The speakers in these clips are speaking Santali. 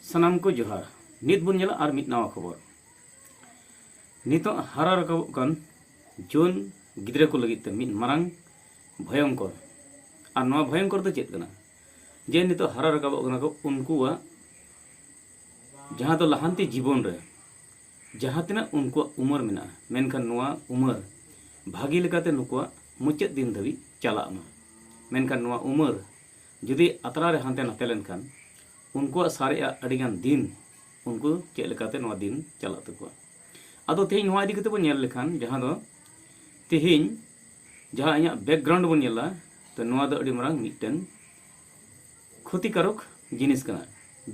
ᱥᱟᱱᱟᱢ ᱠᱚ ᱡᱚᱦᱟᱨ ᱱᱤᱛ ᱵᱚᱱ ᱧᱮᱞᱟ ᱟᱨ ᱢᱤᱫ ᱱᱟᱣᱟ ᱠᱷᱚᱵᱚᱨ ᱱᱤᱛᱚᱜ ᱦᱟᱨᱟ ᱨᱟᱠᱟᱵᱚᱜ ᱠᱟᱱ ᱡᱩᱣᱟᱹᱱ ᱜᱤᱫᱽᱨᱟᱹ ᱠᱚ ᱞᱟᱹᱜᱤᱫ ᱛᱮ ᱢᱤᱫ ᱢᱟᱨᱟᱝ ᱵᱷᱚᱭᱚᱝᱠᱚᱨ ᱟᱨ ᱱᱚᱣᱟ ᱵᱷᱚᱭᱚᱝᱠᱚᱨ ᱫᱚ ᱪᱮᱫ ᱠᱟᱱᱟ ᱡᱮ ᱱᱤᱛᱚᱜ ᱦᱟᱨᱟ ᱨᱟᱠᱟᱵᱚᱜ ᱠᱟᱱᱟ ᱠᱚ ᱩᱱᱠᱩᱣᱟᱜ ᱡᱟᱦᱟᱸ ᱫᱚ ᱞᱟᱦᱟᱱᱛᱤ ᱡᱤᱵᱚᱱ ᱨᱮ ᱡᱟᱦᱟᱸ ᱛᱤᱱᱟᱹᱜ ᱩᱱᱠᱩᱣᱟᱜ ᱩᱢᱟᱹᱨ ᱢᱮᱱᱟᱜᱼᱟ ᱢᱮᱱᱠᱷᱟᱱ ᱱᱚᱣᱟ ᱩᱢᱟᱹᱨ ᱵᱷᱟᱹᱜᱤ ᱞᱮᱠᱟᱛᱮ ᱱᱩᱠᱩᱣᱟᱜ ᱢᱩᱪᱟᱹᱫ ᱫᱤᱱ ᱫᱷᱟᱹᱵᱤᱡ ᱪᱟᱞᱟᱜ ᱢᱟ ᱢᱮᱱᱠᱷᱟᱱ ᱱᱚᱣᱟ ᱩᱢᱟᱹᱨ ᱡᱩᱫᱤ ᱟᱛᱨᱟ ᱨᱮ ᱦᱟᱱᱛᱮ ᱱᱟᱛᱮ ᱞᱮᱱᱠᱷᱟᱱ ᱩᱱᱠᱩᱣᱟᱜ ᱥᱟᱨᱮᱡ ᱟᱜ ᱟᱹᱰᱤ ᱜᱟᱱ ᱫᱤᱱ ᱩᱱᱠᱩ ᱪᱮᱫ ᱞᱮᱠᱟᱛᱮ ᱱᱚᱣᱟ ᱫᱤᱱ ᱪᱟᱞᱟᱜ ᱛᱟᱠᱚᱣᱟ ᱟᱫᱚ ᱛᱮᱦᱮᱧ ᱱᱚᱣᱟ ᱤᱫᱤ ᱠᱟᱛᱮ ᱵᱚᱱ ᱧᱮᱞ ᱞᱮᱠᱷᱟᱱ ᱡᱟᱦᱟᱸ ᱫᱚ ᱛᱮᱦᱮᱧ ᱡᱟᱦᱟᱸ ᱤᱧᱟᱹᱜ ᱵᱮᱠᱜᱨᱟᱣᱩᱱᱰ ᱵᱚᱱ ᱧᱮᱞᱟ ᱛᱚ ᱱᱚᱣᱟ ᱫᱚ ᱟᱹᱰᱤ ᱢᱟᱨᱟᱝ ᱢᱤᱫᱴᱮᱱ ᱠᱷᱚᱛᱤᱠᱟᱨᱚᱠ ᱡᱤᱱᱤᱥ ᱠᱟᱱᱟ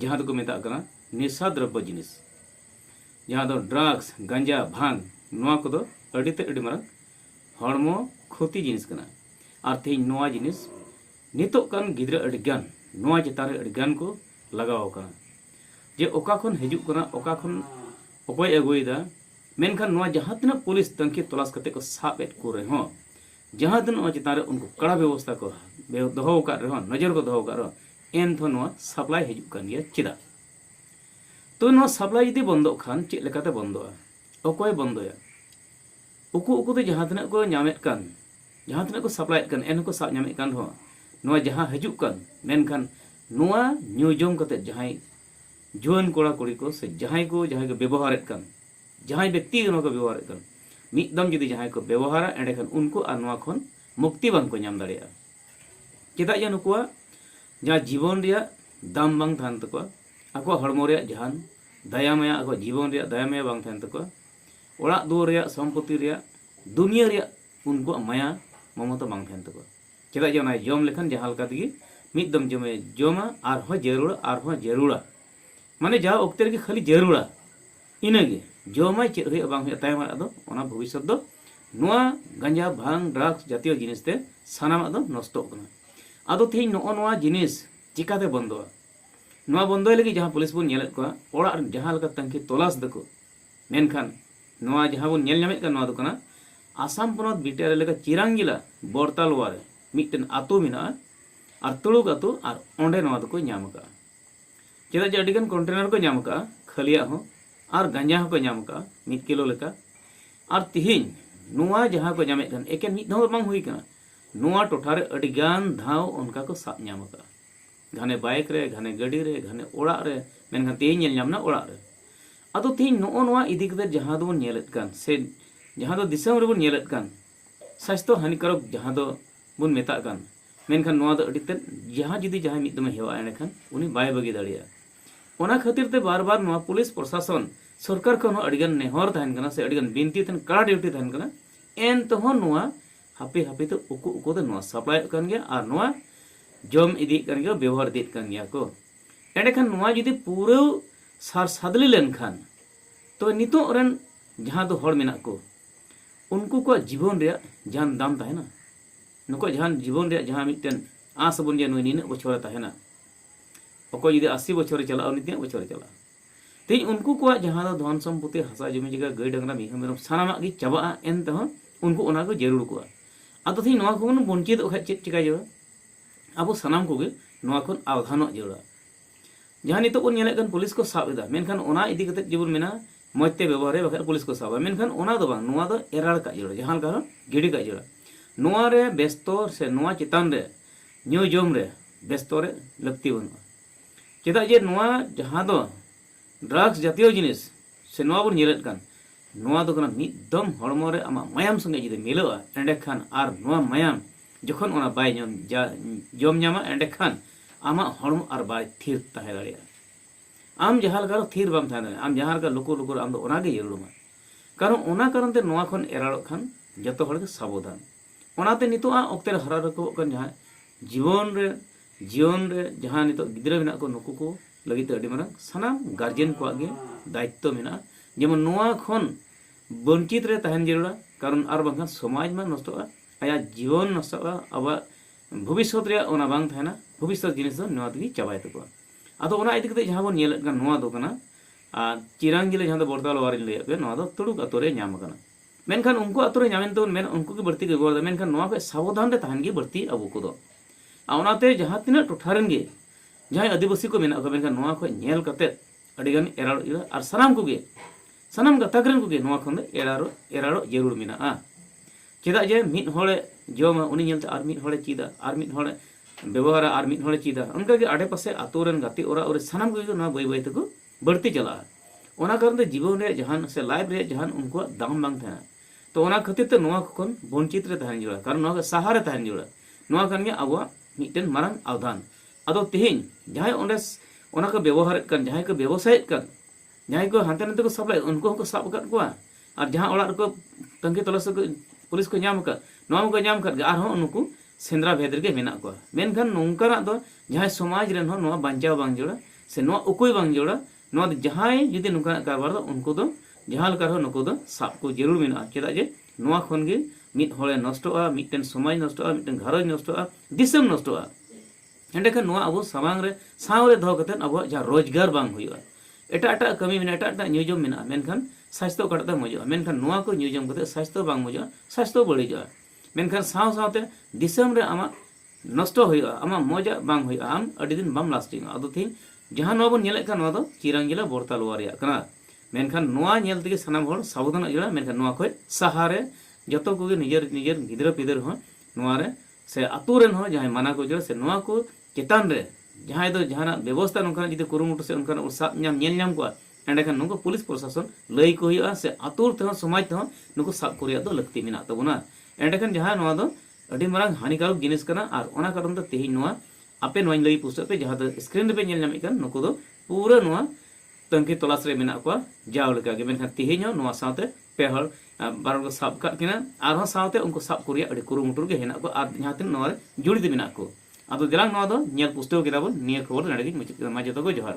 ᱡᱟᱦᱟᱸ ᱫᱚᱠᱚ ᱢᱮᱛᱟᱜ ᱠᱟᱱᱟ ᱱᱮᱥᱟ ᱫᱨᱚᱵᱽᱵᱚ ᱡᱤᱱᱤᱥ ᱡᱟᱦᱟᱸ ᱫᱚ ᱰᱨᱟᱜᱽᱥ ᱜᱟᱸᱡᱟ ᱵᱷᱟᱝ ᱱᱚᱣᱟ ᱠᱚᱫᱚ ᱟᱹᱰᱤ ᱛᱮ ᱟᱹᱰᱤ ᱢᱟᱨᱟᱝ ᱦᱚᱲᱢᱚ ᱠᱷᱚᱛᱤ ᱡᱤᱱᱤᱥ ᱠᱟᱱᱟ ᱟᱨ ᱛᱮᱦᱮᱧ ᱱᱚᱣᱟ ᱡᱤᱱᱤᱥ ᱱᱤᱛᱚᱜ ᱠᱟᱱ ᱜᱤᱫᱽᱨᱟᱹ ᱟᱹᱰᱤ ᱜᱟᱱ ᱱᱚᱣᱟ ᱪᱮᱛᱟᱱ ᱨᱮ ᱟᱹᱰᱤ ᱜᱟᱱ ᱠᱚ ᱞᱟᱜᱟᱣ ᱟᱠᱟᱱᱟ ᱡᱮ ᱚᱠᱟ ᱠᱷᱚᱱ ᱦᱤᱡᱩᱜ ᱠᱟᱱᱟ ᱚᱠᱟ ᱠᱷᱚᱱ ᱚᱠᱚᱭ ᱟᱹᱜᱩᱭᱮᱫᱟ ᱢᱮᱱᱠᱷᱟᱱ ᱱᱚᱣᱟ ᱡᱟᱦᱟᱸ ᱛᱤᱱᱟᱹᱜ ᱯᱩᱞᱤᱥ ᱛᱟᱹᱝᱠᱷᱤ ᱛᱚᱞᱟᱥ ᱠᱟᱛᱮ ᱠᱚ ᱥᱟᱵ ᱮᱫ ᱠᱚ ᱨᱮᱦᱚᱸ ᱡᱟᱦᱟᱸ ᱛᱤᱱᱟᱹᱜ ᱱᱚᱣᱟ ᱪᱮᱛᱟᱱ ᱨᱮ ᱩᱱᱠᱩ ᱠᱟᱲᱟ ᱵᱮᱵᱚᱥᱛᱷᱟ ᱠᱚ ᱫᱚᱦᱚ ᱟᱠᱟᱫ ᱨᱮᱦᱚᱸ ᱱᱚᱡᱚᱨ ᱠᱚ ᱫᱚᱦᱚ ᱟᱠᱟᱫ ᱨᱮᱦᱚᱸ ᱮᱱᱛᱷᱚ ᱱᱚᱣᱟ ᱥᱟᱯᱞᱟᱭ ᱦᱤᱡᱩᱜ ᱠᱟᱱ ᱜᱮᱭᱟ ᱪᱮᱫᱟᱜ ᱛᱚ ᱱᱚᱣᱟ ᱥᱟᱯᱞᱟᱭ ᱡᱩᱫᱤ ᱵᱚᱱᱫᱚᱜ ᱠᱷᱟᱱ ᱪᱮᱫ ᱞᱮᱠᱟᱛᱮ ᱵᱚᱱᱫᱚᱜᱼᱟ ᱚᱠᱚᱭ ᱵᱚᱱᱫᱚᱭᱟ ᱩᱠᱩ ᱩᱠᱩ ᱛᱮ ᱡᱟᱦᱟᱸ ᱛᱤᱱᱟᱹᱜ ᱠᱚ ᱧᱟᱢᱮᱫ ᱠᱟᱱ, ᱡᱟᱦᱟᱸ ᱛᱤᱱᱟᱹᱜ ᱠᱚ ᱥᱟᱯᱞᱟᱭᱮᱫ ᱠᱟᱱ ᱮᱱ ᱦᱚᱸᱠᱚ ᱥᱟᱵ ᱧᱟᱢᱮᱫ ᱠᱟᱱ ᱨᱮᱦᱚᱸ ᱱᱚᱣᱟ ᱡᱟᱦᱟᱸ ᱦᱤᱡᱩᱜ ᱠᱟᱱ ᱢᱮᱱᱠᱷᱟᱱ ᱱᱚᱣᱟ ᱧᱩ ᱡᱚᱢ ᱠᱟᱛᱮ ᱡᱟᱦᱟᱸᱭ ᱡᱩᱣᱟᱹᱱ ᱠᱚᱲᱟ ᱠᱩᱲᱤ ᱠᱚ ᱥᱮ ᱡᱟᱦᱟᱸᱭ ᱠᱚ ᱡᱟᱦᱟᱸᱭ ᱠᱚ ᱵᱮᱵᱚᱦᱟᱨᱮᱫ ᱠᱟᱱ ᱡᱟᱦᱟᱸᱭ ᱵᱮᱠᱛᱤ ᱜᱮ ᱱᱚᱣᱟ ᱠᱚ ᱵᱮᱵᱚᱦᱟᱨᱮᱫ ᱠᱟᱱ ᱢᱤᱫ ᱫᱚᱢ ᱡᱩᱫᱤ ᱡᱟᱦᱟᱸᱭ ᱠᱚ ᱵᱮᱵᱚᱦᱟᱨᱟ ᱮᱸᱰᱮ ᱠᱷᱟᱱ ᱩᱱᱠᱩ ᱟᱨ ᱱᱚᱣᱟ ᱠᱷᱚᱱ ᱢᱩᱠᱛᱤ ᱵᱟᱝ ᱠᱚ ᱧᱟᱢ ᱫᱟᱲᱮᱭᱟᱜᱼᱟ ᱪᱮᱫᱟᱜ ᱡᱮ ᱱᱩᱠᱩᱣᱟᱜ ᱡᱟᱦᱟᱸ ᱡᱤᱵᱚᱱ ᱨᱮᱭᱟᱜ ᱫᱟᱢ ᱵᱟᱝ ᱛᱟᱦᱮᱱ ᱛᱟᱠᱚᱣᱟ ᱟᱠᱚᱣᱟᱜ ᱦᱚᱲᱢᱚ ᱨᱮᱭᱟᱜ ᱡᱟᱦᱟᱱ ᱫᱟᱭᱟ ᱢᱟᱭᱟ ᱟᱠᱚᱣᱟᱜ ᱡᱤᱵᱚᱱ ᱨᱮᱭᱟᱜ ᱫᱟᱭᱟ ᱢᱟᱭᱟ ᱵᱟᱝ ᱛᱟᱦᱮᱱ ᱛᱟᱠᱚᱣᱟ ᱚᱲᱟᱜ ᱫᱩᱣᱟᱹᱨ ᱨᱮᱭᱟᱜ ᱥᱚᱢᱯᱚᱛᱤ ᱨᱮᱭᱟᱜ ᱫᱩᱱᱤᱭᱟᱹ ᱨᱮᱭᱟᱜ ᱩᱱᱠᱩᱣᱟᱜ ᱢᱟᱭᱟ ᱢᱚᱢᱚᱛᱟ ᱵᱟᱝ ᱛᱟᱦᱮᱱ ᱛᱟᱠᱚᱣᱟ ᱪᱮᱫᱟᱜ ᱡᱮ ᱚᱱᱟ ᱡᱚᱢ ᱞᱮᱠᱷᱟᱱ ᱡᱟᱦᱟᱸ ᱞᱮᱠᱟ ᱛᱮᱜᱮ ᱢᱤᱫ ᱫᱚᱢ ᱡᱚᱢᱮ ᱡᱚᱢᱟ ᱟᱨᱦᱚᱸ ᱡᱟᱹᱨᱩᱲᱟ ᱟᱨᱦᱚᱸ ᱡᱟᱹᱨᱩᱲᱟ ᱢᱟᱱᱮ ᱡᱟᱣ ᱚᱠᱛᱮ ᱨᱮᱜᱮ ᱠᱷᱟᱹᱞᱤ ᱡᱟᱹᱨᱩᱲᱟ ᱤᱱᱟᱹᱜᱮ ᱡᱚᱢᱟᱭ ᱪᱮᱫ ᱦᱩᱭᱩᱜᱼᱟ ᱵᱟᱝ ᱦᱩᱭᱩᱜᱼᱟ ᱛᱟᱭᱚᱢ ᱨᱮᱭᱟᱜ ᱫᱚ ᱚᱱᱟ ᱵᱷᱚᱵᱤᱥᱥᱚᱛ ᱫᱚ ᱱᱚᱣᱟ ᱜᱟᱸᱡᱟ ᱵᱷᱟᱝ ᱰᱨᱟᱜᱽᱥ ᱡᱟᱛᱤᱭᱚ ᱡᱤᱱᱤᱥ ᱛᱮ ᱥᱟᱱᱟᱢᱟᱜ ᱫᱚ ᱱᱚᱥᱴᱚᱜ ᱠᱟᱱᱟ ᱟᱫᱚ ᱛᱮᱦᱮᱧ ᱱᱚᱜᱼᱚ ᱱᱚᱣᱟ ᱡᱤᱱᱤᱥ ᱪᱤᱠᱟᱛᱮ ᱵᱚᱱᱫᱚᱜᱼᱟ ᱱᱚᱣᱟ ᱵᱚᱱᱫᱚᱭ ᱞᱟᱹᱜᱤᱫ ᱡᱟᱦᱟᱸ ᱯᱩᱞᱤᱥ ᱵᱚᱱ ᱧᱮᱞᱮᱫ ᱠᱚᱣᱟ ᱚᱲᱟᱜ ᱨᱮ ᱡᱟᱦᱟᱸ ᱞᱮᱠᱟ ᱛᱟᱹᱝᱠᱷᱤ ᱛᱚᱞᱟᱥ ᱫᱟᱠᱚ ᱢᱮᱱᱠᱷᱟᱱ ᱱᱚᱣᱟ ᱡᱟᱦᱟᱸ ᱵᱚᱱ ᱧᱮᱞ ᱧᱟᱢᱮᱫ ᱠᱟᱱ ᱱᱚᱣᱟ ᱫᱚ ᱠᱟᱱᱟ ᱟᱥᱟᱢ ᱯᱚᱱᱚᱛ ᱵᱤᱴᱤᱟᱨ ᱮᱞᱟᱠᱟ ᱪᱤᱨᱟᱝ ᱡᱮᱞᱟ ᱵᱚᱨᱛᱟᱞᱣᱟ ᱨᱮ ᱢᱤᱫᱴᱮᱱ ᱟᱛᱳ ᱢᱮᱱᱟᱜᱼᱟ ᱟᱨ ᱛᱩᱲᱩᱠ ᱟᱛᱳ ᱟᱨ ᱚᱸᱰᱮ ᱱᱚᱣᱟ ᱫᱚᱠᱚ ᱧᱟᱢ ᱟᱠᱟᱫᱼᱟ ᱪᱮᱫᱟᱜ ᱡᱮ ᱟᱹᱰᱤᱜᱟᱱ ᱠᱚᱱᱴᱮᱱᱟᱨ ᱠᱚ ᱧᱟᱢ ᱟᱠᱟᱫᱼᱟ ᱠᱷᱟᱹᱞᱤᱭᱟᱜ ᱦᱚᱸ ᱟᱨ ᱜᱟᱸᱡᱟ ᱦᱚᱸᱠᱚ ᱧᱟᱢ ᱟᱠᱟᱫᱼᱟ ᱢᱤᱫ ᱠᱤᱞᱳ ᱞᱮᱠᱟ ᱟᱨ ᱛᱤᱦᱤᱧ ᱱᱚᱣᱟ ᱡᱟᱦᱟᱸ ᱠᱚ ᱧᱟᱢᱮᱫ ᱠᱟᱱ ᱮᱠᱮᱱ ᱢᱤᱫ ᱫᱷᱟᱣ ᱵᱟᱝ ᱦᱩᱭ ᱟᱠᱟᱱᱟ ᱱᱚᱣᱟ ᱴᱚᱴᱷᱟ ᱨᱮ ᱟᱹᱰᱤᱜᱟᱱ ᱫᱷᱟᱣ ᱚᱱᱠᱟ ᱠᱚ ᱥᱟᱵ ᱧᱟᱢ ᱟᱠᱟᱫᱼᱟ ᱜᱷᱟᱱᱮ ᱵᱟᱭᱮᱠ ᱨᱮ, ᱜᱷᱟᱱᱮ ᱜᱟᱹᱰᱤ ᱨᱮ, ᱜᱷᱟᱱᱮ ᱚᱲᱟᱜ ᱨᱮ, ᱢᱮᱱᱠᱷᱟᱱ ᱛᱮᱦᱮᱧ ᱧᱮᱞ ᱧᱟᱢ ᱮᱱᱟ ᱚᱲᱟᱜ ᱨᱮ᱾ ᱟᱫᱚ ᱛᱮᱦᱮᱧ ᱱᱚᱜᱼᱚ ᱱᱚᱣᱟ ᱤᱫᱤ ᱠᱟᱛᱮ ᱡᱟᱦᱟᱸ ᱫᱚᱵᱚᱱ ᱧᱮᱞᱮᱫ ᱠᱟᱱ ᱥᱮ ᱡᱟᱦᱟᱸ ᱫᱚ ᱫᱤᱥᱚᱢ ᱨᱮᱵᱚᱱ ᱧᱮᱞᱮᱫ ᱠᱟᱱ ᱥᱟᱥᱛᱷᱚ ᱦᱟᱱᱤᱠᱟᱨᱚᱠ ᱡᱟᱦᱟᱸ ᱫᱚ ᱵᱚᱱ ᱢᱮᱛᱟᱜ ᱠᱟᱱ ᱢᱮᱱᱠᱷᱟᱱ ᱱᱚᱣᱟ ᱫᱚ ᱟᱹᱰᱤ ᱛᱮᱫ ᱡᱟᱦᱟᱸ ᱡᱩᱫᱤ ᱡᱟᱦᱟᱸᱭ ᱢᱤᱫ ᱫᱚᱢᱮ ᱦᱮᱣᱟᱜᱼᱟ ᱮᱸᱰᱮᱠᱷᱟᱱ ᱩᱱᱤ ᱵᱟᱭ ᱵᱟᱹᱜᱤ ᱫᱟᱲᱮᱭᱟᱜᱼᱟ᱾ ᱚᱱᱟ ᱠᱷᱟᱹᱛᱤᱨ ᱛᱮ ᱵᱟᱨ ᱵᱟᱨ ᱱᱚᱣᱟ ᱯᱩᱞᱤᱥ ᱯᱨᱚᱥᱟᱥᱚᱱ ᱥᱚᱨᱠᱟᱨ ᱠᱷᱚᱱ ᱦᱚᱸ ᱟᱹᱰᱤ ᱜᱟᱱ ᱱᱮᱦᱚᱨ ᱛᱟᱦᱮᱱ ᱠᱟᱱᱟ ᱥᱮ ᱟᱹᱰᱤ ᱜᱟᱱ ᱵᱤᱱᱛᱤ ᱛᱟᱦᱮᱱ ᱠᱟᱲᱟ ᱰᱤᱭᱩᱴᱤ ᱛᱟᱦᱮᱱ ᱠᱟᱱᱟ ᱮᱱᱛᱮᱦᱚᱸ ᱱᱚᱣᱟ ᱦᱟᱯᱮ ᱦᱟᱯᱮ ᱛᱮ ᱩᱠᱩ ᱩᱠᱩ ᱛᱮ ᱱᱚᱣᱟ ᱥᱟᱯᱲᱟᱣᱮᱫ ᱠᱟᱱ ᱜᱮᱭᱟ ᱟᱨ ᱱᱚᱣᱟ ᱡᱚᱢ ᱤᱫᱤᱭᱮᱫ ᱠᱟᱱ ᱜᱮᱭᱟ ᱵᱮᱵᱚᱦᱟᱨ ᱤᱫᱤᱭᱮᱫ ᱠᱟᱱ ᱜᱮᱭᱟ ᱠᱚ ᱮᱸᱰᱮᱠᱷᱟᱱ ᱱᱚᱣᱟ ᱡᱩᱫᱤ ᱯᱩᱨᱟᱹ ᱥᱟᱨ ᱥᱟᱫᱽᱞᱤ ᱞᱮᱱᱠᱷᱟᱱ ᱛᱚᱵᱮ ᱱᱤᱛᱚᱜ ᱨᱮᱱ ᱡᱟᱦᱟᱸ ᱫᱚ ᱦᱚᱲ ᱢᱮᱱᱟᱜ ᱠᱚ ᱩᱱᱠᱩ ᱠᱚᱣᱟᱜ ᱡᱤᱵᱚᱱ ᱨᱮᱭᱟᱜ ᱡᱟᱦᱟᱱ ᱫᱟᱢ ᱛᱟᱦᱮᱱᱟ ᱱᱩᱠᱩᱣᱟᱜ ᱡᱟᱦᱟᱱ ᱡᱤᱵᱚᱱ ᱨᱮᱭᱟᱜ ᱡᱟᱦᱟᱸ ᱢᱤᱫᱴᱮᱱ ᱟᱸᱥ ᱵᱚᱱ ᱡᱮ ᱱᱩᱭ ᱱᱤᱱᱟᱹᱜ ᱵᱚᱪᱷᱚᱨᱮ ᱛᱟᱦᱮᱱᱟ ᱚᱠᱚᱭ ᱡᱩᱫᱤ ᱟᱥᱤ ᱵᱚᱪᱷᱚᱨᱮ ᱪᱟᱞᱟᱜᱼᱟ ᱩᱱᱤ ᱛᱤᱱᱟᱹᱜ ᱵᱚᱪᱷᱚᱨᱮ ᱪᱟᱞᱟᱜᱼᱟ ᱛᱮᱦᱮᱧ ᱩᱱᱠᱩ ᱠᱚᱣᱟᱜ ᱡᱟᱦᱟᱸ ᱫᱚ ᱫᱷᱚᱱ ᱥᱚᱢᱯᱚᱛᱤ ᱦᱟᱥᱟ ᱡᱚᱢᱤ ᱡᱟᱭᱜᱟ ᱜᱟᱹᱭ ᱰᱟᱝᱨᱟ ᱢᱤᱦᱩ ᱢᱮᱨᱚᱢ ᱥᱟᱱᱟᱢᱟᱜ ᱜᱮ ᱪᱟᱵᱟᱜᱼᱟ ᱮᱱ ᱛᱮᱦᱚᱸ ᱩᱱᱠᱩ ᱚᱱᱟ ᱠᱚ ᱡᱟᱹᱨᱩᱲ ᱠᱚᱣᱟ ᱟᱫᱚ ᱛᱮᱦᱮᱧ ᱱᱚᱣᱟ ᱠᱷᱚᱱ ᱵᱚᱱ ᱵᱚᱧᱪᱤᱛᱚᱜ ᱠᱷᱟᱱ ᱪᱮᱫ ᱪᱤᱠᱟᱹ ᱡᱟᱹᱨᱩᱲᱟ ᱟᱵᱚ ᱥᱟᱱᱟᱢ ᱠᱚᱜᱮ ᱱᱚᱣᱟ ᱠᱷᱚᱱ ᱟᱣᱫᱷᱟᱱᱚᱜ ᱡᱟᱹᱨᱩᱲᱟ ᱡᱟᱦᱟᱸ ᱱᱤᱛᱚᱜ ᱵᱚᱱ ᱧᱮᱞᱮᱫ ᱠᱟᱱ ᱯᱩᱞᱤᱥ ᱠᱚ ᱥᱟᱵ ᱮᱫᱟ ᱢᱮᱱᱠᱷᱟᱱ ᱚᱱᱟ ᱤᱫᱤ ᱠᱟᱛᱮ ᱡᱮᱵᱚᱱ ᱢᱮᱱᱟ ᱢᱚᱡᱽ ᱛᱮ ᱵᱮᱵᱚᱦᱟᱨᱮ ᱵᱟᱠᱷᱟᱱ ᱯᱩᱞᱤᱥ ᱠᱚ ᱥᱟᱵᱟ ᱢᱮᱱᱠᱷᱟᱱ ᱚᱱᱟ ᱫᱚ ᱵᱟᱝ ᱱᱚᱣᱟ ᱫᱚ ᱮᱨᱟᱲ ᱠᱟᱜ ᱡᱟᱹᱨᱩᱲᱟ ᱡᱟᱦᱟᱸ ᱞᱮᱠᱟ ᱨᱮᱦᱚᱸ ᱜᱤᱰᱤ ᱠᱟᱜ ᱡᱟᱹᱨᱩᱲᱟ ᱱᱚᱣᱟ ᱨᱮ ᱵᱮᱥᱛᱚ ᱥᱮ ᱱᱚᱣᱟ ᱪᱮᱛᱟᱱ ᱨᱮ ᱧᱩ ᱡᱚᱢ ᱨᱮ ᱵᱮᱥᱛᱚ ᱨᱮ ᱞᱟᱹᱠᱛᱤ ᱵᱟᱹᱱᱩᱜᱼᱟ ᱪᱮᱫᱟᱜ ᱡᱮ ᱱᱚᱣᱟ ᱡᱟᱦᱟᱸ ᱫᱚ ᱰᱨᱟᱜᱽᱥ ᱡᱟᱛᱤᱭᱚ ᱡᱤᱱᱤᱥ ᱥᱮ ᱱᱚᱣᱟ ᱵᱚᱱ ᱧᱮᱞᱮᱫ ᱠᱟᱱ ᱱᱚᱣᱟ ᱫᱚ ᱠᱟᱱᱟ ᱢᱤᱫ ᱫᱚᱢ ᱦᱚᱲᱢᱚ ᱨᱮ ᱟᱢᱟᱜ ᱢᱟᱭᱟᱢ ᱥᱚᱸᱜᱮ ᱡᱩᱫᱤ ᱢᱤᱞᱟᱹᱜᱼᱟ ᱮᱸᱰᱮ ᱠᱷᱟᱱ ᱟᱨ ᱱᱚᱣᱟ ᱢᱟᱭᱟᱢ ᱡᱚᱠᱷᱚᱱ ᱚᱱᱟ ᱵᱟᱭ ᱧᱟᱢ ᱡᱚᱢ ᱧᱟᱢᱟ ᱮᱸᱰᱮ ᱠᱷᱟᱱ ᱟᱢᱟᱜ ᱦᱚᱲᱢᱚ ᱟᱨ ᱵᱟᱭ ᱛᱷᱤᱨ ᱛᱟᱦᱮᱸ ᱫᱟᱲᱮᱭᱟᱜᱼᱟ ᱟᱢ ᱡᱟᱦᱟᱸ ᱞᱮᱠᱟ ᱨᱮᱦᱚᱸ ᱛᱷᱤᱨ ᱵᱟᱢ ᱛᱟᱦᱮᱸ ᱫᱟᱲᱮᱭᱟᱜᱼᱟ ᱟᱢ ᱡᱟᱦᱟᱸ ᱞᱮᱠᱟ ᱞᱩᱠᱩ ᱞᱩᱠᱩ ᱨᱮ ᱟᱢ ᱫᱚ ᱚᱱᱟ ᱜᱮ ᱡᱟᱹᱨᱩᱲ ᱟᱢᱟ ᱠᱟᱨᱚᱱ ᱚᱱᱟ ᱠᱟᱨᱚᱱ ᱛᱮ ᱱᱚᱣᱟ ᱠᱷᱚᱱ ᱮᱨᱟᱲᱚᱜ ᱠᱷᱟᱱ ᱡᱚᱛᱚ ᱦᱚᱲ ᱜᱮ ᱥᱟᱵᱚᱫᱷᱟᱱ ᱚᱱᱟᱛᱮ ᱱᱤᱛᱚᱜ ᱟᱜ ᱚᱠᱛᱮ ᱨᱮ ᱦᱟᱨᱟ ᱨᱟᱠᱟᱵᱚᱜ ᱠᱟᱱ ᱡᱟᱦᱟᱸᱭ ᱡᱤᱵᱚᱱ ᱨᱮ ᱡᱤᱭᱚᱱ ᱨᱮ ᱡᱟᱦᱟᱸ ᱱᱤᱛᱚᱜ ᱜᱤᱫᱽᱨᱟᱹ ᱢᱮᱱᱟᱜ ᱠᱚ ᱱᱩᱠᱩ ᱠᱚ ᱞᱟᱹᱜᱤᱫ ᱛᱮ ᱟᱹᱰᱤ ᱢᱟᱨᱟᱝ ᱥᱟᱱᱟᱢ ᱜᱟᱨᱡᱮᱱ ᱠᱚᱣᱟᱜ ᱜᱮ ᱫᱟᱭᱤᱛᱛᱚ ᱢᱮᱱᱟᱜᱼᱟ ᱡᱮᱢᱚᱱ ᱱᱚᱣᱟ ᱠᱷᱚᱱ ᱵᱚᱧᱪᱤᱛ ᱨᱮ ᱛᱟᱦᱮᱱ ᱡᱟᱹᱨᱩᱲᱟ ᱠᱟᱨᱚᱱ ᱟᱨ ᱵᱟᱝᱠᱷᱟᱱ ᱥᱚᱢᱟᱡᱽ ᱢᱟ ᱱᱚᱥᱴᱚᱜᱼᱟ ᱟᱭᱟᱜ ᱡᱤᱭᱚᱱ ᱱᱚᱥᱴᱚᱜᱼᱟ ᱟᱵᱚᱣᱟᱜ ᱵᱷᱚᱵᱤᱥᱥᱚᱛ ᱨᱮᱭᱟᱜ ᱚᱱᱟ ᱵᱟᱝ ᱛᱟᱦᱮᱱᱟ ᱵᱷᱚᱵᱤᱥᱥᱚᱛ ᱡᱤᱱᱤᱥ ᱫᱚ ᱱᱚᱣᱟ ᱛᱮᱜᱮ ᱪᱟᱵᱟᱭ ᱛᱟᱠᱚᱣᱟ ᱟᱫᱚ ᱚᱱᱟ ᱤᱫᱤ ᱠᱟᱛᱮ ᱡᱟᱦᱟᱸ ᱵᱚᱱ ᱧᱮᱞᱮᱫ ᱠᱟᱱ ᱱᱚᱣᱟ ᱫᱚ ᱠᱟᱱᱟ ᱟᱨ ᱪᱤᱨᱟᱝ ᱡᱮᱞᱮ ᱡᱟᱦᱟᱸ ᱫᱚ ᱵᱚᱨᱫᱟᱞᱣᱟᱨᱤᱧ ᱞᱟᱹᱭᱟᱫ ᱯᱮᱭᱟ ᱱᱚᱣᱟ ᱫᱚ ᱛᱩᱲᱩᱠ ᱟᱛᱳ ᱨᱮ ᱧᱟᱢ ᱟᱠᱟᱱᱟ ᱢᱮᱱᱠᱷᱟᱱ ᱩᱱᱠᱩ ᱟᱛᱳ ᱨᱮ ᱧᱟᱢᱮᱱ ᱛᱮᱵᱚᱱ ᱢᱮᱱ ᱩᱱᱠᱩ ᱜᱮ ᱵᱟᱹᱲᱛᱤ ᱠᱚ ᱵᱮᱵᱚᱦᱟᱨ ᱮᱫᱟ ᱢᱮᱱᱠᱷᱟᱱ ᱱᱚᱣᱟ ᱠᱷᱚᱱ ᱥᱟᱵᱚᱫᱷᱟᱱ ᱨᱮ ᱛᱟᱦᱮᱱ ᱜᱮ ᱵᱟᱹᱲᱛᱤ ᱟᱵᱚ ᱠᱚᱫᱚ ᱟᱨ ᱚᱱᱟᱛᱮ ᱡᱟᱦᱟᱸ ᱛᱤᱱᱟᱹᱜ ᱴᱚᱴᱷᱟ ᱨᱮᱱ ᱜᱮ ᱡᱟᱦᱟᱸᱭ ᱟᱹᱫᱤᱵᱟᱹᱥᱤ ᱠᱚ ᱢᱮᱱᱟᱜ ᱠᱚᱣᱟ ᱢᱮᱱᱠᱷᱟᱱ ᱱᱚᱣᱟ ᱠᱷᱚᱱ ᱧᱮᱞ ᱠᱟᱛᱮ ᱟᱹᱰᱤᱜᱟᱱ ᱮᱨᱟᱲ ᱦᱩᱭᱩᱜᱼᱟ ᱟᱨ ᱥᱟᱱᱟᱢ ᱠᱚᱜᱮ ᱥᱟᱱᱟᱢ ᱜᱟᱛᱟᱠ ᱨᱮᱱ ᱠᱚᱜᱮ ᱱᱚᱣᱟ ᱠᱷᱚᱱ ᱫᱚ ᱮᱨᱟᱲ ᱮᱨᱟᱲ ᱡᱟᱹᱨᱩᱲ ᱢᱮᱱᱟᱜᱼᱟ ᱪᱮᱫᱟᱜ ᱡᱮ ᱢᱤᱫ ᱦᱚᱲᱮ ᱡᱚᱢᱟ ᱩᱱᱤ ᱧᱮᱞᱛᱮ ᱟᱨ ᱢᱤᱫ ᱦᱚᱲᱮ ᱪᱮᱫᱟ ᱟᱨ ᱢᱤᱫ ᱦᱚᱲᱮ ᱵᱮᱵᱚᱦᱟᱨᱟ ᱟᱨ ᱢᱤᱫ ᱦᱚᱲᱮ ᱪᱮᱫᱟ ᱚᱱᱠᱟᱜᱮ ᱟᱰᱮᱯᱟᱥᱮ ᱟᱛᱳ ᱨᱮᱱ ᱜᱟᱛᱮ ᱚᱨᱟᱜ ᱨᱮ ᱥᱟᱱᱟᱢ ᱠᱚᱜᱮ ᱱᱚᱣᱟ ᱵᱟᱹᱭ ᱵᱟᱹᱭ ᱛᱮᱠᱚ ᱵᱟᱹᱲᱛᱤ ᱪᱟᱞᱟᱜᱼᱟ ᱚᱱᱟ ᱠᱟᱨᱚᱱ ᱛᱮ ᱡᱤᱵᱚᱱ ᱨᱮᱭᱟᱜ ᱡᱟᱦᱟᱱ ᱥᱮ ᱞᱟᱭᱤᱯᱷ ᱨᱮᱭᱟᱜ ᱡᱟᱦᱟᱱ ᱩᱱᱠᱩᱣᱟᱜ ᱫᱟᱢ ᱵᱟᱝ ᱛᱟᱦᱮᱱᱟ ᱛᱚ ᱚᱱᱟ ᱠᱷᱟᱹᱛᱤᱨ ᱛᱮ ᱱᱚᱣᱟ ᱠᱷᱚᱱ ᱵᱚᱧᱪᱤᱛ ᱨᱮ ᱛᱟᱦᱮᱱ ᱡᱟᱹᱨᱩᱲᱟ ᱠᱟᱨᱚᱱ ᱱᱚᱣᱟ ᱜᱮ ᱥᱟᱦᱟ ᱨᱮ ᱛᱟᱦᱮᱱ ᱡᱟᱹᱨᱩᱲᱟ ᱱᱚᱣᱟ ᱠᱟᱱ ᱜᱮᱭᱟ ᱟᱵᱚᱣᱟᱜ ᱢᱤᱫᱴᱮᱱ ᱢᱟᱨᱟᱝ ᱟᱣᱫᱷᱟᱱ ᱟᱫᱚ ᱛᱮᱦᱮᱧ ᱡᱟᱦᱟᱸᱭ ᱚᱸᱰᱮ ᱚᱱᱟ ᱠᱚ ᱵᱮᱵᱚᱦᱟᱨᱮᱫ ᱠᱟᱱ ᱡᱟᱦᱟᱸᱭ ᱠᱚ ᱵᱮᱵᱚᱥᱟᱭᱮᱫ ᱠᱟᱱ ᱡᱟᱦᱟᱸᱭ ᱠᱚ ᱦᱟᱱᱛᱮ ᱱᱟᱛᱮ ᱠᱚ ᱥᱟᱯᱞᱟᱭ ᱩᱱᱠᱩ ᱦᱚᱸᱠᱚ ᱥᱟᱵ ᱟᱠᱟᱫ ᱠᱚᱣᱟ ᱟᱨ ᱡᱟᱦᱟᱸ ᱚᱲᱟᱜ ᱨᱮᱠᱚ ᱛᱟᱹᱝᱠᱤ ᱛᱚᱞᱟᱥ ᱠᱚ ᱯᱩᱞᱤᱥ ᱠᱚ ᱧᱟᱢ ᱟᱠᱟᱫ ᱱᱚᱣᱟ ᱢᱟᱠᱚ ᱧᱟᱢ ᱟᱠᱟᱫ ᱜᱮ ᱟᱨᱦᱚᱸ ᱱᱩᱠᱩ ᱥᱮᱸᱫᱽᱨᱟ ᱵᱷᱮᱫᱽ ᱨᱮᱜᱮ ᱢᱮᱱᱟᱜ ᱠᱚᱣᱟ ᱢᱮᱱᱠᱷᱟᱱ ᱱᱚᱝᱠᱟᱱᱟᱜ ᱫᱚ ᱡᱟᱦᱟᱸᱭ ᱥᱚᱢᱟᱡᱽ ᱨᱮᱱ ᱦᱚᱸ ᱱᱚᱣᱟ ᱵᱟᱧᱪᱟᱣ ᱵᱟᱝ ᱡᱟᱹᱨᱩᱲᱟ ᱥᱮ ᱱᱚᱣᱟ ᱚᱠᱚᱭ ᱵᱟᱝ ᱡᱚᱲᱟ ᱱᱚᱣᱟ ᱫᱚ ᱡᱟᱦᱟᱸᱭ ᱡᱩᱫᱤ ᱱᱚᱝᱠᱟᱱᱟᱜ ᱠᱟᱨᱵᱟᱨ ᱫᱚ ᱩᱱᱠᱩ ᱫᱚ ᱡᱟᱦᱟᱸ ᱞᱮᱠᱟ ᱨᱮᱦᱚᱸ ᱱᱩᱠᱩ ᱫᱚ ᱥᱟᱵ ᱠᱚ ᱡᱟᱹᱨᱩᱲ ᱢᱮᱱᱟᱜᱼᱟ ᱪᱮᱫᱟᱜ ᱡᱮ ᱱᱚᱣᱟ ᱠᱷᱚᱱ ᱜᱮ ᱢᱤᱫ ᱦᱚᱲᱮ ᱱᱚᱥᱴᱚᱜᱼᱟ ᱢᱤᱫᱴᱮᱱ ᱥᱚᱢᱟᱡᱽ ᱱᱚᱥᱴᱚᱜᱼᱟ ᱢᱤᱫᱴᱮᱱ ᱜᱷᱟᱨᱚᱸᱡᱽ ᱱᱚᱥᱴᱚᱜᱼᱟ ᱫᱤᱥᱚᱢ ᱱᱚᱥᱴᱚᱜᱼᱟ ᱮᱸᱰᱮᱠᱷᱟᱱ ᱱᱚᱣᱟ ᱟᱵᱚ ᱥᱟᱢᱟᱝ ᱨᱮ ᱥᱟᱶ ᱨᱮ ᱫᱚᱦᱚ ᱠᱟᱛᱮᱫ ᱟᱵᱚᱣᱟᱜ ᱡᱟᱦᱟᱸ ᱨᱳᱡᱽᱜᱟᱨ ᱵᱟᱝ ᱦᱩᱭᱩᱜᱼᱟ ᱮᱴᱟᱜ ᱮᱴᱟᱜ ᱠᱟᱹᱢᱤ ᱢᱮᱱᱟᱜᱼᱟ ᱮᱴᱟᱜ ᱮᱴᱟᱜ ᱧᱩ ᱡᱚᱢ ᱢᱮᱱᱟᱜᱼᱟ ᱢᱮᱱᱠᱷᱟᱱ ᱥᱟᱥᱛᱷᱚ ᱚᱠᱟᱴᱟᱜ ᱛᱮ ᱢᱚᱡᱚᱜᱼᱟ ᱢᱮᱱᱠᱷᱟᱱ ᱱᱚᱣᱟ ᱠᱚ ᱧᱩ ᱡᱚᱢ ᱠᱟᱛᱮᱫ ᱥᱟᱥᱛᱷᱚ ᱵᱟᱝ ᱢᱚᱡᱚᱜᱼᱟ ᱥᱟᱥᱛᱷᱚ ᱵᱟᱹᱲᱤᱡᱚᱜᱼᱟ ᱢᱮᱱᱠᱷᱟᱱ ᱥᱟᱶ ᱥᱟᱶᱛᱮ ᱫᱤᱥᱚᱢ ᱨᱮ ᱟᱢᱟᱜ ᱱᱚᱥᱴᱚ ᱦᱩᱭᱩᱜᱼᱟ ᱟᱢᱟᱜ ᱢᱚᱡᱟᱜ ᱵᱟᱝ ᱦᱩᱭᱩᱜᱼᱟ ᱟᱢ ᱟᱹᱰᱤ ᱫᱤᱱ ᱵᱟᱢ ᱞᱟᱥᱴᱤᱝ ᱚᱜᱼᱟ ᱟᱫᱚ ᱛᱮᱦᱮᱧ ᱡᱟᱦᱟᱸ ᱱᱚᱣᱟ ᱵᱚᱱ ᱧᱮᱞᱮᱫ ᱠᱟᱱ ᱱᱚᱣᱟ ᱫᱚ ᱪᱤᱨᱟᱝᱜᱤᱞᱟ ᱵᱚᱨᱛᱟᱞᱩᱣᱟ ᱨᱮᱭᱟᱜ ᱠᱟᱱᱟ ᱢᱮᱱᱠᱷᱟᱱ ᱱᱚᱣᱟ ᱧᱮᱞ ᱛᱮᱜᱮ ᱥᱟᱱᱟᱢ ᱦᱚᱲ ᱥᱟᱵᱚᱫᱷᱟᱱᱚᱜ ᱡᱟᱹᱨᱩᱲᱟ ᱢᱮᱱᱠᱷᱟᱱ ᱱᱚᱣᱟ ᱠᱷᱚᱱ ᱥᱟᱦᱟ ᱨᱮ ᱡᱚᱛᱚ ᱠᱚᱜᱮ ᱱᱤᱡᱮᱨ ᱱᱤᱡᱮᱨ ᱜᱤᱫᱽᱨᱟᱹ ᱯᱤᱫᱟᱹᱨ ᱦᱚᱸ ᱱᱚᱣᱟ ᱨᱮ ᱥᱮ ᱟᱹᱛᱩ ᱨᱮᱱ ᱦᱚᱸ ᱡᱟᱦᱟᱸᱭ ᱢᱟᱱᱟ ᱠᱚ ᱡᱟᱹᱨᱩᱲᱟ ᱥᱮ ᱱᱚᱣᱟ ᱠᱚ ᱪᱮᱛᱟᱱ ᱨᱮ ᱡᱟᱦᱟᱸᱭ ᱫᱚ ᱡᱟᱦᱟᱱᱟᱜ ᱵᱮᱵᱚᱥᱛᱟ ᱱᱚᱝᱠᱟᱱᱟᱜ ᱡᱩᱫᱤ ᱠᱩᱨᱩᱢᱩᱴᱩ ᱥᱮ ᱚᱱᱠᱟᱱᱟᱜ ᱵᱚᱱ ᱥᱟᱵ ᱧᱟᱢ ᱧᱮᱞ ᱧᱟᱢ ᱠᱚᱣᱟ ᱮᱸᱰᱮᱠᱷᱟᱱ ᱱᱩᱠᱩ ᱯᱩᱞᱤᱥ ᱯᱨᱚᱥᱟᱥᱚᱱ ᱞᱟᱹᱭ ᱟᱠᱚ ᱦᱩᱭᱩᱜᱼᱟ ᱥᱮ ᱟᱹᱛᱩ ᱛᱮᱦᱚᱸ ᱥᱚᱢᱟᱡᱽ ᱛᱮᱦᱚᱸ ᱱᱩᱠᱩ ᱥᱟᱵ ᱠᱚ ᱨᱮᱭᱟᱜ ᱫᱚ ᱞᱟᱹᱠᱛᱤ ᱢᱮᱱᱟᱜ ᱛᱟᱵᱚᱱᱟ ᱮᱸᱰᱮᱠᱷᱟᱱ ᱡᱟᱦᱟᱸ ᱱᱚᱣᱟ ᱫᱚ ᱟᱹᱰᱤ ᱢᱟᱨᱟᱝ ᱦᱟᱹᱱᱤᱠᱟᱨᱚᱠ ᱡᱤᱱᱤᱥ ᱠᱟᱱᱟ ᱟᱨ ᱚᱱᱟ ᱠᱟᱨᱚᱱ ᱛᱮ ᱛᱮᱦᱮᱧ ᱱᱚᱣᱟ ᱟᱯᱮ ᱱᱚᱣᱟᱧ ᱞᱟᱹᱭ ᱯᱩᱥᱴᱟᱹᱣ ᱯᱮ ᱡᱟᱦᱟᱸ ᱫᱚ ᱥᱠᱨᱤᱱ ᱨᱮᱯᱮ ᱧᱮᱞ ᱧᱟᱢᱮᱫ ᱠᱟᱱ ᱱᱩᱠᱩ ᱫᱚ ᱯᱩᱨᱟᱹ ᱱᱚᱣᱟ ᱛᱟᱹᱝᱠᱤ ᱛᱚᱞᱟᱥ ᱨᱮ ᱢᱮᱱᱟᱜ ᱠᱚᱣᱟ ᱡᱟᱣ ᱞᱮᱠᱟ ᱜᱮ ᱢᱮᱱᱠᱷᱟᱱ ᱛᱮᱦᱮᱧ ᱦᱚᱸ ᱱᱚᱣᱟ ᱥᱟᱶᱛᱮ ᱯᱮ ᱦᱚᱲ ᱵᱟᱨ ᱦᱚᱲ ᱠᱚ ᱥᱟᱵ ᱟᱠᱟᱫ ᱠᱤᱱᱟ ᱟᱨᱦᱚᱸ ᱥᱟᱶᱛᱮ ᱩᱱᱠᱩ ᱥᱟᱵ ᱠᱚ ᱨᱮᱭᱟᱜ ᱟᱹᱰᱤ ᱠᱩᱨᱩᱢᱩᱴᱩ ᱨᱮᱜᱮ ᱦᱮᱱᱟᱜ ᱠᱚᱣᱟ ᱟᱨ ᱡᱟᱦᱟᱸ ᱛᱤᱱᱟᱹᱜ ᱱᱚᱣᱟ ᱨᱮ ᱡᱩᱲᱤᱛ ᱢᱮᱱᱟᱜ ᱠᱚ ᱟᱫᱚ ᱫᱮᱞᱟᱝ ᱱᱚᱣᱟ ᱫᱚ ᱧᱮᱞ ᱯᱩᱥᱴᱟᱹᱣ ᱠᱮᱫᱟ ᱵᱚᱱ ᱱᱤᱭᱟᱹ ᱠᱷᱚᱵᱚᱨ ᱱᱚᱰᱮ ᱜᱮᱧ ᱢᱩᱪᱟᱹᱫ ᱠᱮᱫᱟ ᱢᱟ ᱡᱚᱛᱚ ᱠᱚ ᱡᱚᱦᱟᱨ